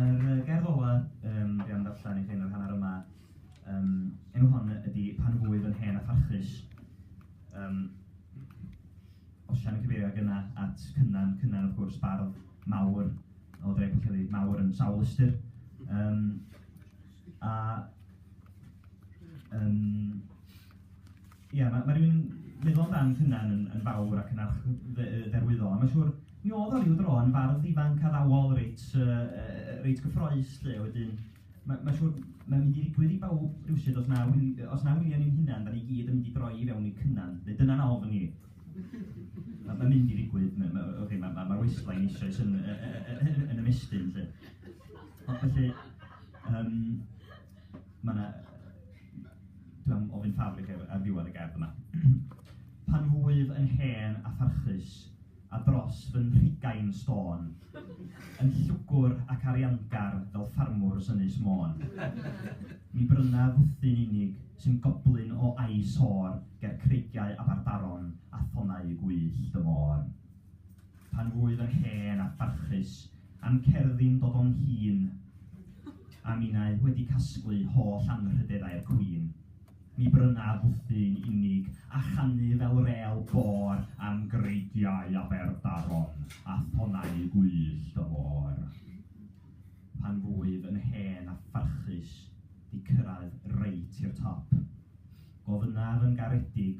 Yr gerdd ola um, dwi am ddarllen i chi yn yr hanner yma, um, enw hon ydy Pan fwyf yn hen a pharchus. Um, Osian yn cyfeirio gyna at Cynan, Cynan wrth gwrs bardd mawr o dre Pwllheli, mawr yn sawl ystyr. Um, a um, Ia, ma' ma' rywun yn meddwl amdan eich hunan yn yn fawr ac yn arch- dde- yy dderwyddol, a mae'n siŵr, mi oedd o ryw dro yn fardd ifanc addawol reit yy yy reit gyffrous 'lly, a wedyn ma' mae'n siŵr mae'n mynd i ddigwydd i bawb rywsut os na wi- yy os na wi a ni'n hunan, 'dan ni gyd yn mynd i droi i fewn i Cynan, neu dyna'n ofn i. Ma' ma'n mynd i ddigwydd, ma' ma' ocê ma' ma' ma'r waistline eisoes yn yy yy yy yn ymestyn 'lly. Ond felly yym... Ma' 'na... Dwi am ofyn ffafr i chi ar ddiwedd y gerdd yma. Pan wyf yn hen a pharchus, a dros fy nhrigain stôn, yn llwgwr ac ariangar fel ffarmwr Ynys Môn, mi bryna fwthyn unig sy'n goblyn o a'i sôr ger creigiau Aberdaron a thonnau gwyllt y môr. Pan wyf yn hen a pharchus, A'n cerddi'n dod o'n hŷn, a minnau wedi casglu holl anrhydedau'r cwîn, mi brynaf fwthyn unig, a chanu fel rêl bôr am greigiau Aberdaron a thonnau gwyllt y môr. Pan fwyf yn hen a pharchus, 'di cyrraedd reit i'r top, gofynnaf yn garedig